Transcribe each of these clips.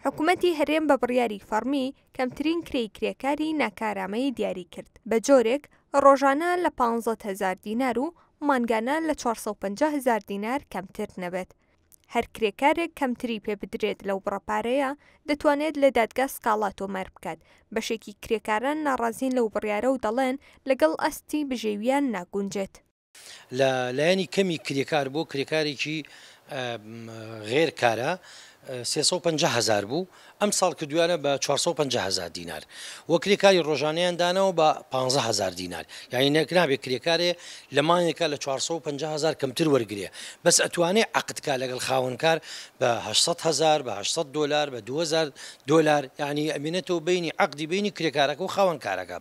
حکومەتی هەرێم بە بڕیاری فەڕمی کەمترین کرێی کرێکاری ناکارامەیی دیاری کرد بە جۆرێک ڕۆژانە لە پانزەت هەزار دینار و مانگانە لە چوار سەد و پەنجا هەزار دینار کەمتر نەبێت. هەر کرێکارێک کەمتری پێ بدرێت لەو بڕە پارەیە دەتوانێت لە دادگا سکاڵا تۆمار بکات، بەشێکی کرێکاران ناڕازین لەو بڕیارە و دەڵێن لەگەڵ ئاستی بژێوییان ناگونجێت. لە لایەنی کەمی کرێکار بۆ کرێکارێکی غێر کارە 350 هزار بوو ئەم ساڵ کردویانە بە 450 هزار دینار وە کرێکاری ڕۆژانیان دانەوە بە 15 هزار دینار یعنی نەکنابێت کرێکارێ لە مانێکە لە 450 هزار کەمتر وەرگێ بەس ئەتوانێ عقدکە لەگەڵ خاوەنکار بە 800 هزار بە 800 دلار بە 2000 دلار یعنی ئەمینەتەوە بینی عقدی بینی کرێکارەکە و خاوەنکارەکە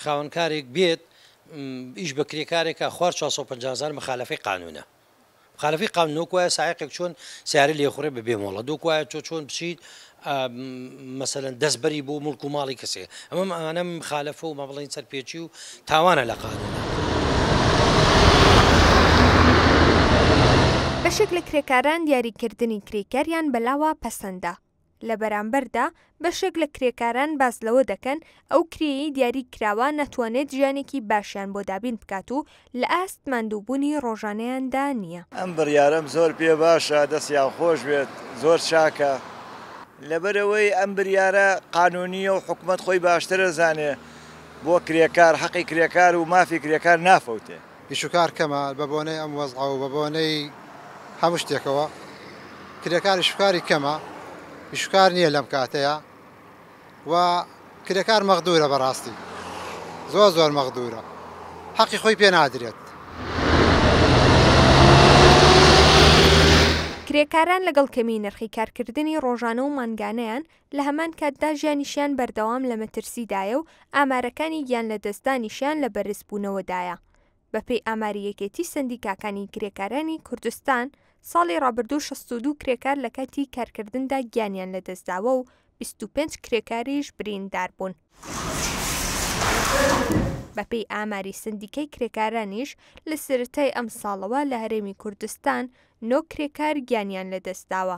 خاوەنکارێک بێت ئیش بە کرێکارێک کا خوار چوار سەد و پەنجا هەزار مخالەفەی قانونە مخالەفەی قانون وەک وایە سایەقێک چۆن سیارە لێ خوڕێ بە بێ مۆڵە دۆک وایە تۆ چۆن بچیت مەسەن دەستبەری بۆ ملک و ماڵی کەسێ ئەمە ئەمانە مخالەفە و مە بڵین سەرپێچی و تاوانە لە قانون. بەشێک لە کرێکاران دیاریکردنی کرێکاریان بەلاوە پەسەندە، لە بەرامبەردا بەشێک لە کرێکاران باس لەوە دەکەن، ئەو کرێی دیاری کراوە ناتوانێت ژیانێکی باشیان بۆ دابین بکات و لە ئاست ماندووبوونی ڕۆژانەیاندا نییە. ئەم بڕیارەم زۆر پێ باشە، دەستیان خۆش بێت، زۆر چاکە. لەبەرئەوەی ئەم بریارە قانونییە و حکومەت خۆی باشتر ئەزانێت، بۆ کرێکار، حەقی کرێکار و مافی کرێکار نافەوتێت. ئیشوکار کەمە، بە بۆنەی ئەم وەزعە و بە بۆنەی هەموو شتێکەوە کرێکار ئیشوکاری کەمە، ئیشوکار نییە لەم کاتەیا و کرێکار مەغدوورە بەڕاستی زۆر زۆر مەغدوورە حەقی خۆی پێ نادرێت. کرێکاران لەگەڵ کەمیی نرخی کارکردنی ڕۆژانە و مانگانەیان، لە هەمان کاتدا ژیانیشیان بەردەوام لە مەترسیدایە و ئامارەکانی گیانلەدەستدانیشیان لە بەرزبوونەوەدایە. بەپێی ئاماری یەکێتی سەندیکاکانی کرێکارانی کوردستان، ساڵی ڕابردوو شەست و دوو کرێکار لە کاتی کارکردندا گیانیان لەدەستداوە و بیست و پێنج کرێکاریش بریندار بوون. بەپێی ئاماری سەندیکای کرێکارانیش، لە سەرەتای ئەمساڵەوە لە هەرێمی کوردستان نۆ کرێکار گیانیان لەدەستداوە،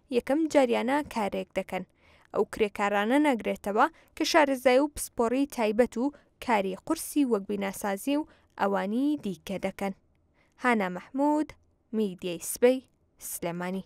یەکەم جاریانە کارێک دەکەن، ئەو کرێکارانە ناگرێتەوە کە شارەزای و پسپۆری تایبەت و کاری قورسی وەک بیناسازی و ئەوانی دیکە دەکەن. هانا مەحمود، میدیای سبەی، سلێمانی.